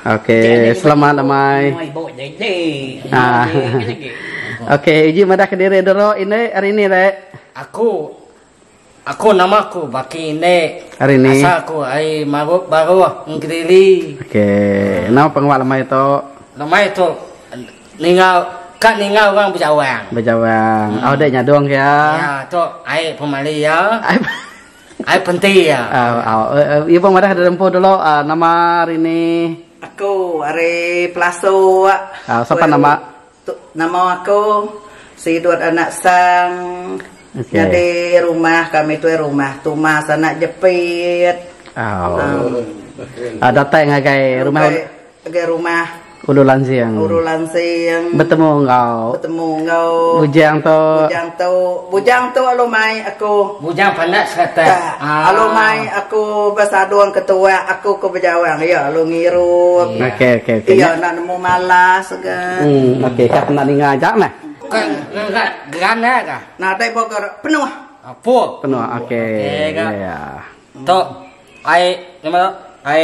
Okey, selamat lemai. Ah. Okey, uji madah ke diri dulu ini hari ini re. Aku aku nama aku baki ini. Hari ini. Asal aku ai marut baru ngediri. Okey, nama pengawa lemai tu? Lemai tu ninga ka ninga orang bejawang. Bejawang. Hmm. Oh, dek nyadong ya. Ya, tu ai pemali ya. Ai penti iya. Iya pun madah diri empu dulu nama ari ni. Aku ari Pelasu awak. Sapa nama. Nama aku Sidut anak Sang nyadi rumah kami tu rumah tumas anak jepit. Datai ngagai rumah. Ngagai rumah. Ulu Lansing. Ulu Lansing. Betemu enggau. Betemu enggau. Bujang tu. Bujang tu. Bujang tu alu mai aku. Bujang pandak serata. Ah. Alu mai aku besadung ke tuak aku ke bejawang iya alu ngiru. Iya. Okey okey okey. Iya nak nemu malas ga. Hmm okey kak pernah ninga aja meh. Kan ngak gerana ga. Nadai boga penuh. Full. Penuh okey. Okey ga. Iya. Tu ai nama tu? Ai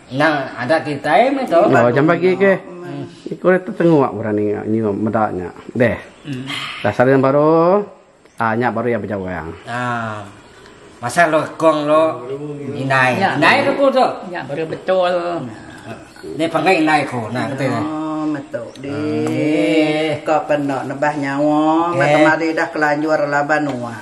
Nya adat kitai meh tu. Nya jam pagi ke. Iku dah tetengok orang ninga nyium meda nya. Deh. Dah saren baru ah nya baru iya bejawang. Ah. Pasal lu kong lu indai. Indai ke ku tu? Nya baru betul. Deh panggil indai ku nah kata. Oh meh tu. Dih, ka penda nebah nyawa ba kemari dah kelanjur laban nuan.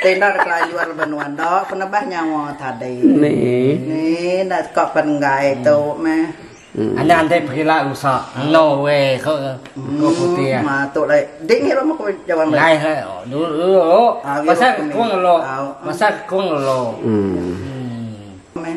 Ti enda dah kelanjur laban nuan enda pun nebah nyawa tadi. Dih, enda teka pen enggai tu meh. Anak enti pekila rusa elo we ko ko putih ah. Ma tu lagi. Dih ngirup meh ko jawang lagi. Lai leh dulu. Pasal kong elo. Pasal kong elo. Meh.